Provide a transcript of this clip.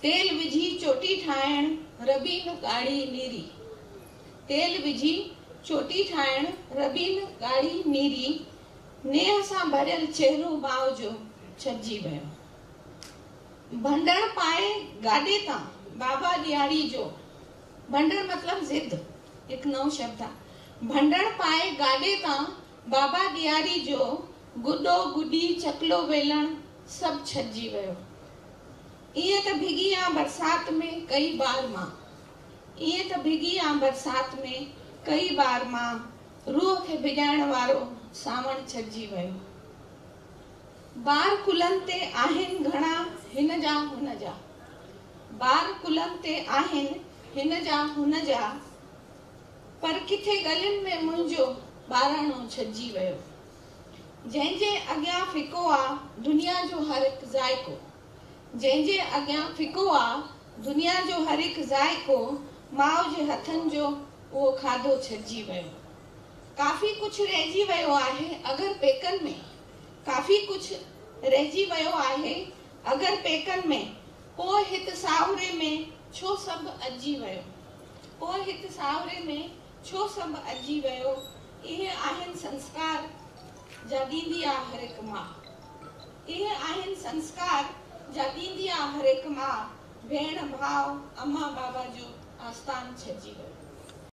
تيل وجهي چوٽي ٺاهڻ ربين ڳاڙهي نيري تيل وجهي چوٽي ٺاهڻ ربين ڳاڙهي نيري نيهه سان ڀريل چهرو ماء جو ڇپجي ويو ڀنڊڙ پائي گاڏي تان بابا ڏياري جو ڀنڊڙ مطلب ضد هڪ نئون شبد آ ڀنڊڙ پائي گاڏي تان بابا ڏياري جو گڏو گڏي چڪلو ويلڻ سڀ ڇڏجي ويو. ايئن ته ڀڳي آن برسات ۾ ڪئي بار مان ايئن ته ڀڳي آن برسات ۾ ڪئي بار مان روح کي ڀڄائڻ وارو سانوڻ ڇڏجي ويو بار ڪلهن تي آهن گهڻا هن جا هن جا بار ڪلهن تي آهن هن جا هن جا پر ڪٿي ڳلين ۾ منهنجو ٻاراڻو ڇڏجي ويو. جنهن جي اڳيان ڦڪو آ دنيا جو هر هڪ ذائقو جنهن جي اڳيان ڦڪو آ دنيا جو هر هڪ ذائقو ماء جي هٿن جو اهو کاڌو ڇڏجي ويو ڪافي ڪجهه رهجي ويو آهي اگر پيڪن ۾ ڪافي ڪجهه رهجي ويو آهي اگر پيڪن ۾ پوء هت ساهوري ۾ ڇو سڀ اجي ويو پوء هت ساهوري ۾ ڇو سڀ اجي ويو اهي آهن سنسڪار جا ڏيندي آ هر هڪ ماء اهي آهن سنسڪار جا ڏيندي آ هر هڪ ماء ڀيڻ ڀاء امان بابا جو آستان ڇڏجي ويو.